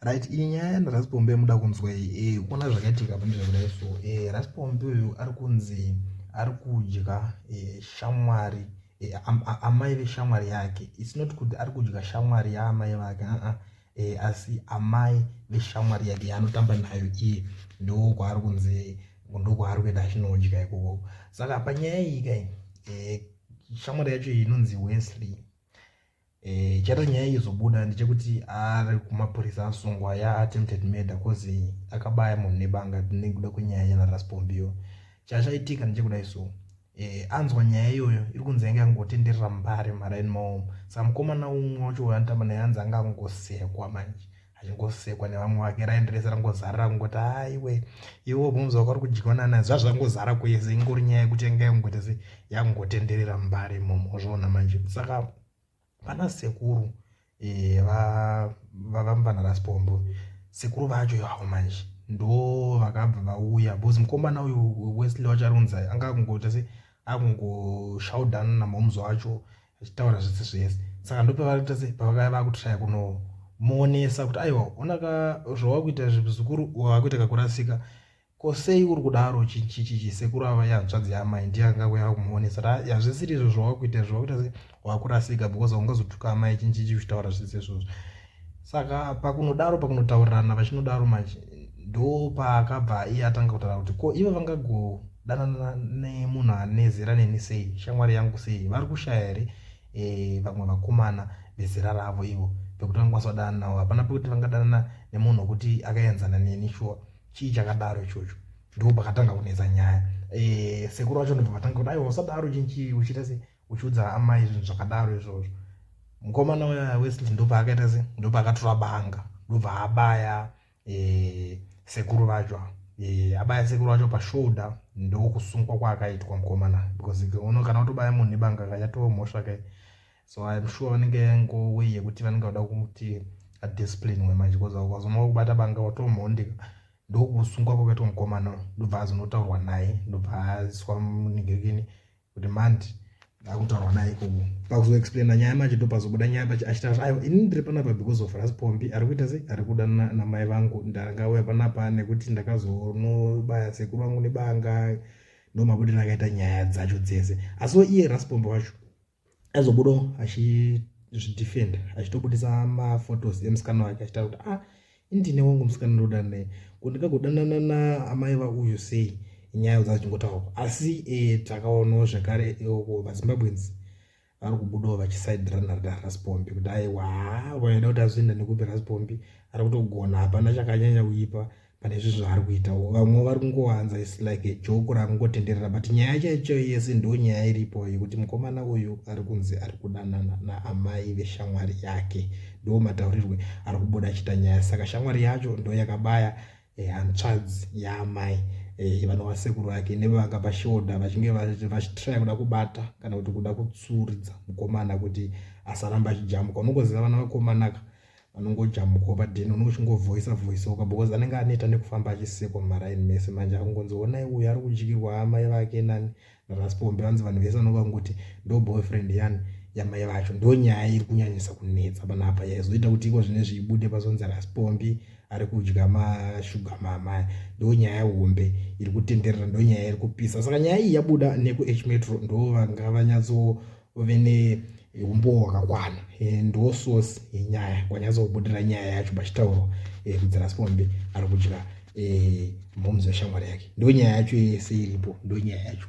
right iyi nyaya yana raspombe muda kunzwa iyi e eh, kuona zvakaitika pa ndizvakudai so e eh, raspombe uyu ari kunzi ari kudya eh, shamwari amai veshamwari yake its not kuti ari kudya shamwari yaamai vake aa asi amai veshamwari yake yaanotamba nayo iye ndokwaari kunzi ndokwaari kuenda achinodya ikoko saka panyaya iyi kai shamwari yacho iyi inonzi wesley Eh, chata nyaya izobuda ndechekuti ari kumapurisa asungwa ya attempted murder cause akabaya munhu nebanga nekuda kwenyaya yana raspombio chachaitika ndechekudai so eh, anzwa nyaya iyoyo iri kunzi yange angotenderera mbare mhara in maomo samukomana umwe wacho anotamba naye anzi anga angosekwa manje achingosekwa nevamwe vake raindi rese rangozarira kungoti haiwe iwe ubvunza waka uri kudyiwa nana zvazvo zvangozara kwese ingori nyaya yekuti yanga yangoita se yangotenderera mbare imomo ozviona manje saka vana sekuru eh, vavamvana raspombo sekuru vacho ivavo manje ndo vakabva vauya bcause mukomana uyu wesley wacharonza anga akungoita se akungoshaudanana mamuzi wacho achitaura zvese zvese saka ndopavarikuita sei pavakaya vakutraya kunomuonesa kuti aiwa ona ka zvawakuita zvizukuru wakuita kakurasika ko sei uri kudaro chichichichi sekuru ava yanzvadzi yamai ndiye anga kuya kumuonesa kuti yazvisiri izvo zvawakuita izvo wakuita sei wakurasika because ungazotuka amai chinchichi uchitaura zvese izvozvo saka pakunodaro pakunotaurirana vachinodaro manje ndopaakabva iye atanga kutaura kuti ko ivo vangagodanana nemunhu ane zera neni sei shamwari yangu sei vari kushaya here e, vamwe vakomana vezera ravo ivo pekuti vangakwanisa kudanana navo hapana pekuti vangadanana nemunhu wekuti akaenzana neni shuwa chii chakadaro ichocho ndo pakatanga kunetsa nyaya e, sekuru vacho ndobva vatanga kuti aiwa usadaro chinchii uchiita sei uchiudza amai zvinhu zvakadaro izvozvo mukomana uya wesley ndopaakaita se ndopaakatora banga ndobva abaya eh, sekuru vacho ava Eh, abaya sekuru vacho pashoulda ndokusungwa kwaakaitwa mukomana because uno kana utobaya munhu nebanga kayatova mhosva kai so im sure vanenge yangowe yekuti vanenge vada kuti adiscipline we manje bcause ukazonova kubata banga watomhondeka ndokusungwa kwakaitwa mukomana ndobva azonotaurwa naye ndobva aiswa munigekini kuti mandi akutaurwa naye ikoko pakuzoexplaina nyaya macho ndopazobuda nyaya pacho achitaura aiwa ini ndiri panapa because of raspombi ari kuita sei ari kuda namai vangu ndakauya panapa nekuti ndakazonobaya sekuru vangu nebanga ndomabudira akaita nyaya dzacho dzese asiwo iye raspombi wacho aizobudo achizvidefenda achitobudisa maphotos emusikana wake achitaura kuti ah Ndine wangu musikana ndoda naye ko ndikagodanana naamai vauyu sei nyaya dza achingotaurwa asi e, takaonawo zvekare e, uko vazimbabweans vari kubudawo vachisaidhirana rida raspombi kuti aiwa vaida kuti azoenda nekupi raspombi ari kutogona hapana chakanyanya kuipa pane izvi zvaari kuita vamwe vari kungowanza is like a joke raari kungotenderera but nyaya chaicho yese ndo nyaya iripo yekuti mukomana uyu ari kunzi ari kudanana naamai veshamwari yake ndo mataurirwe ari kubuda achiita nyaya saka shamwari yacho ndo yakabaya eh, hantsvadzi yaamai eh, vanova sekuru vake nevanga pashoda vachinge vachitraya kuda kubata kana kuti kuda kutsuridza mukomana kuti asaramba achijamuka unongoziva vana vakomanaka vanongojamuka padheni unenge uchingovhoisa vhoisoka because anenge aneta nekufamba achisekwa mumaraini mese manje akungonzi honai uyu ari kudyirwa amai vake nani Raspombe vanzi vanhu vese vanovangoti ndo boyfriend yani yamai vacho ndo nyaya iri kunyanyisa kunetsa panapa yaizoita kuti iko zvine zviibude pazonzi raspombi ari kudya mashuga mama ndo nyaya hombe iri kutenderera ndo nyaya iri kupisa saka nyaya iyi yabuda nekuh metro ndo vanga vanyatso uve neumbowo hwakakwana eh, ndo source yenyaya kwanyatsa kubudira nyaya yacho pachitaurwa eh, kudzira sipombe ari kudya eh, momzi weshamwari yake ndo nyaya yacho yese iripo ndo nyaya yacho